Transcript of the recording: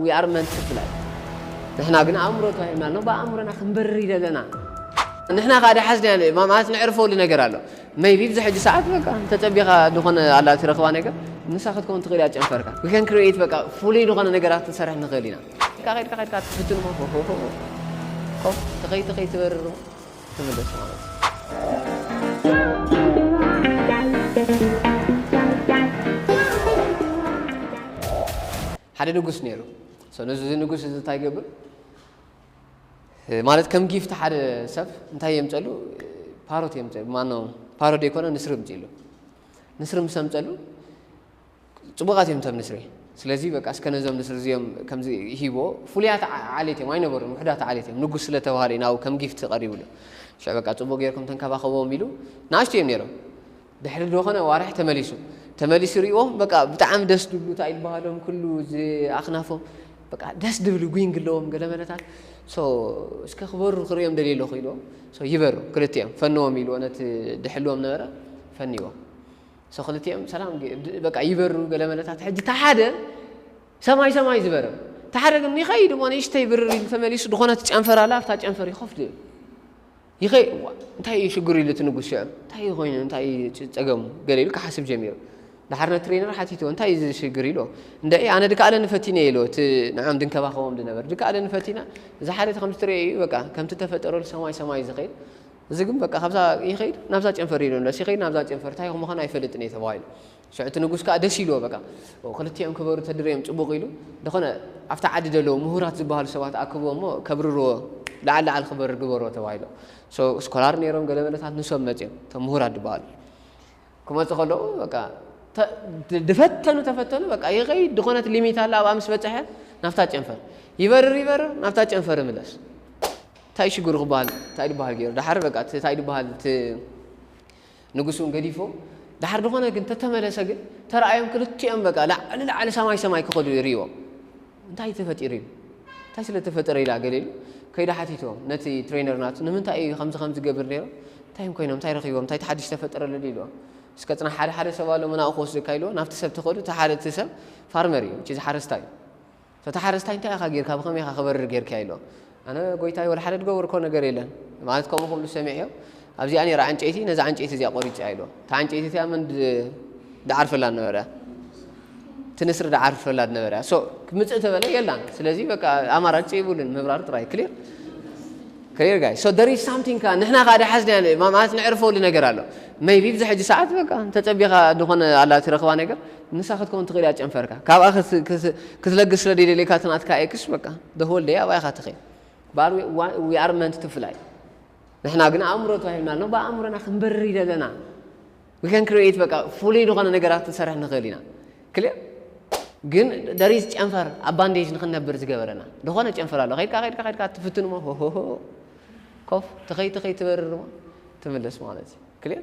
We are meant to fly ንሕና ግን ኣእምሮ ተዋሂብና ኣሎ ብኣእምሮና ክንበርር ይደለና ንሕና ከዓ ዳሓዝና ያለ ማለት ነዕርፈሉ ነገር ኣሎ መይቢ ብዚ ሕጂ ሰዓት በቃ ተጸቢኻ ዝኾነ ኣላ ትረኽባ ነገር ንሳ ክትከውን ትኽእል እያ ጨንፈርካ we can create በቃ ፍሉይ ዝኾነ ነገራት ክንሰርሕ ንኽእል ኢና ካ ከድካ ከድካ ትፍትን ሞ ኮፍ ተኸይ ተኸይ ትበርር ትምለስ ማለት እዩ ሓደ ንጉስ ነይሩ ሰሉ እዚ ንጉስ እዚ እንታይ ገብር ማለት ከም ጊፍቲ ሓደ ሰብ እንታይ የምፀሉ ፓሮት የምፀሉ ማኖ ፓሮት ዘይኮነ ንስሪ ምፅሉ ንስሪ ምስ ኣምፀሉ ፅቡቃት እዮም ተብ ንስሪ ስለዚ በቃ እስከ ነዞም ንስሪ እዚኦም ከምዚ ሂቦ ፍሉያት ዓሌት እዮም ኣይነበሩን ውሕዳት ዓሌት እዮም ንጉስ ስለተባሃለ ናብኡ ከም ጊፍቲ ቀሪብሉ ሸ በቃ ፅቡቅ ጌርኩም ተንከባኸቦም ኢሉ ንኣሽቱ እዮም ነይሮም ድሕሪ ድኾነ ኣዋርሕ ተመሊሱ ተመሊሱ ሪእዎ በቃ ብጣዕሚ ደስ ድብሉ ታይ ድበሃሎም ኩሉ እዚ ኣክናፎም በቃ ደስ ድብሉ ጒንግ ኣለዎም ገለ መለታት ሶ እስከ ክበሩ ክርእዮም ደልየ ኣለኹ ኢልዎ ሶ ይበሩ ክልቲኦም ፈንዎም ኢልዎ ነቲ ድሕልዎም ነበረ ፈንዎ ሶ ክልቲኦም ሰላም በቃ ይበሩ ገለ መለታት ሕጂ እታ ሓደ ሰማይ ሰማይ ዝበረ እታ ሓደ ግን ይኸይድ እሞ ንእሽተይ ብርር ኢሉ ተመሊሱ ድኾነት ጨንፈር ኣላ ኣብታ ጨንፈር ይኸፍት ይኸ እዋእ እንታይ እዩ ሽግሩ ኢሉ እቲ ንጉስ ሽዑ እንታይ እዩ ኮይኑ እንታይ እዩ ጸገሙ ገለ ኢሉ ክሓስብ ጀሚሩ ድሓር ነቲ ትሬነር ሓቲትዎ እንታይ እዩ ዝሽግር ኢሎ እንደ ኣነ ድከኣለ ንፈቲነ ኢሎ እቲ ንዖም ድንከባኸቦም ድነበር ድከኣለ ንፈቲና እዚ ሓደ ከምዚ ትርእየ እዩ በቃ ከምቲ ተፈጠረሉ ሰማይ ሰማይ ዝኸይድ እዚ ግን በቃ ካብዛ ይኸይድ ናብዛ ጨንፈር ኢሉ ንለስ ይኸይድ ናብዛ ጨንፈር እንታይ ምዃኑ ኣይፈልጥን እየ ተባሂሉ ሽዑ እቲ ንጉስ ከኣ ደስ ኢልዎ በቃ ክልቲኦም ክበሩ ተድርዮም ጽቡቕ ኢሉ ደኾነ ኣብታ ዓዲ ደለዉ ምሁራት ዝበሃሉ ሰባት ኣክብዎ እሞ ከብርርዎ ለዓል ለዓል ክበርር ግበርዎ ተባሂሎም ሶ ስኮላር ነይሮም ገለ መለታት ንሶም መጺኦም እቶም ምሁራት ዝበሃሉ ክመጹ ከለዉ በቃ ድፈተኑ ተፈተኑ በቃ ይኸይድ ድኾነት ሊሚት ኣላ ኣብኣ ምስ በጽሐ ናብታ ጨንፈር ይበርር ይበርር ናብታ ጨንፈር ይምለስ እንታይ ሽግሩ ክበሃል እንታይ ድበሃል ገይሩ ደሓር በቃ እንታይ ድበሃል ንግሱን ገዲፉ ድሓር ድኾነ ግን ተተመለሰ ግን ተራኣዮም ክልቲኦም በቃ ላዕሊ ላዕሊ ሰማይ ሰማይ ክኸዱ ይሪእዎም እንታይ ተፈጢሩ እዩ እንታይ ስለ ተፈጠረ ኢላ ገለ ኢሉ ከይዳ ሓቲቶ ነቲ ትሬነር ናቱ ንምንታይ እዩ ከምዚ ከምዚ ገብር ነይሩ እንታይ እዮም ኮይኖም እንታይ ረኺቦም እንታይ ተሓዲሽ ተፈጠረ ለሉ ኢልዎ እስከ ፅና ሓደ ሓደ ሰብ ኣሎ መናኡ ክወስደካ ኢልዎ ናብቲ ሰብ ተኸዱ እቲ ሓደ እቲ ሰብ ፋርመር እዩ ጭዚ ሓረስታይ እዩ እቲ ሓረስታይ እንታይ ኢኻ ጌርካ ብኸመይ ኢኻ ክበርር ጌርካዮ ኢሎ ኣነ ጎይታይ ወላ ሓደ ዝገበርኮ ነገር የለን ማለት ከምኡ ክብሉ ሰሚዔዮ ኣብዚኣ ነይራ ዕንጨይቲ ነዛ ዕንጨይቲ እዚኣ ቆሪጽያ ኢሎ እታ ዕንጨይቲ እቲኣ መን ድዓርፈላ ነበረ እቲ ንስሪ ድዓርፈላ ድነበረ ሶ ምጽእ ተበለ የላን ስለዚ በቃ ኣማራጭ ይብሉን ምብራር ጥራይ ክሊር ክሊር ጋይ ሶ ደር ኢዝ ሳምቲንግ ከ ንሕና ከኣ ድሓዝና ማለት ንዕርፈሉ ነገር ኣሎ መይቢ ብዚ ሕጂ ሰዓት በቃ ተጸቢኻ ዝኾነ ኣላ ትረኽባ ነገር ንሳ ክትከውን ትኽእል እያ ጨንፈርካ ካብኣ ክትለግስ ስለ ደይደልየካ እቲ ናትካ ኤክስ በቃ the whole day ኣብኣ ኢኻ ትኸይድ but we want we are meant to fly ንሕና ግን ኣእምሮ ተዋሂብና ኣሎ ብኣእምሮና ክንበርር እዩ ዘለና we can create በቃ ፍሉይ ዝኾነ ነገራት ክንሰርሕ ንኽእል ኢና ክልእ ግን ደሪዝ ጨንፈር ኣብ ባንዴጅ ንክንነብር ዝገበረና ዝኾነ ጨንፈር ኣሎ ከይድካ ከይድካ ከይድካ ትፍትን እሞ ሆሆሆ ኮፍ ትኸይ ትኸይ ትበርር እሞ ትምለስ ማለት እዩ ክልእ